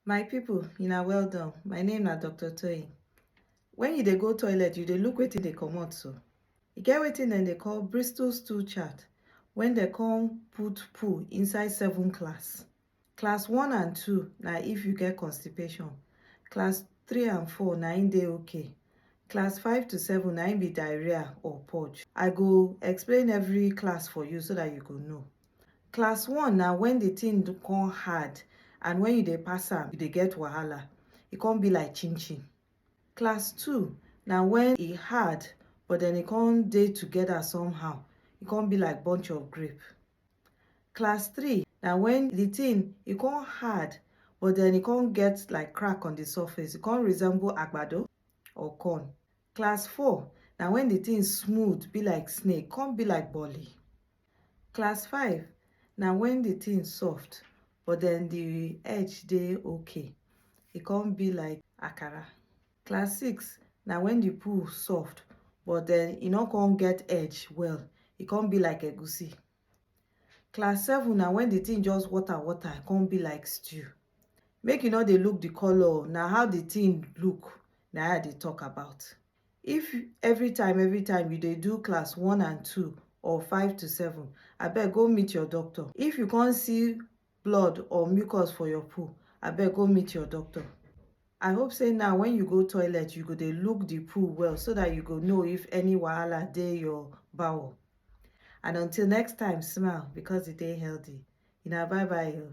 My people una well done, my name na Doctor Toyin. When you dey go toilet, you dey look wetin dey comot so. E get wetin dem dey call Bristol stool chart when dem come put poo inside seven class. Class one and two na if you get constipation. Class three and four na im dey okay. Class five to seven na im be diarrhea or purge. I go explain every class for you so that you go know. Class one na when the thing come hard and when you dey pass am, you dey get wahala. E come be like chin chin. Class two na when e hard but then e come dey together somehow. E come be like bunch of grape. Class three na when the thing e come hard but then e come get like crack on the surface. E come resemble agbado or corn. Class four na when the thing smooth be like snake, come be like boli. Class five na when the thing soft but then the edge dey okay. E come be like akara. Class six na when the poo soft but then e no come get edge well. E come be like egusi. Class seven na when the thing just water water come be like stew. Make you no dey look the colour o, na how the thing look na im I dey talk about. If every time every time you dey do class one and two or five to seven, abeg go meet your doctor. If you come see blood or mucus for your poo, abeg go meet your doctor. I hope say now when you go toilet, you go dey look the poo well so that you go know if any wahala dey your bowel. And until next time, smile because e dey healthy. Una bye bye o.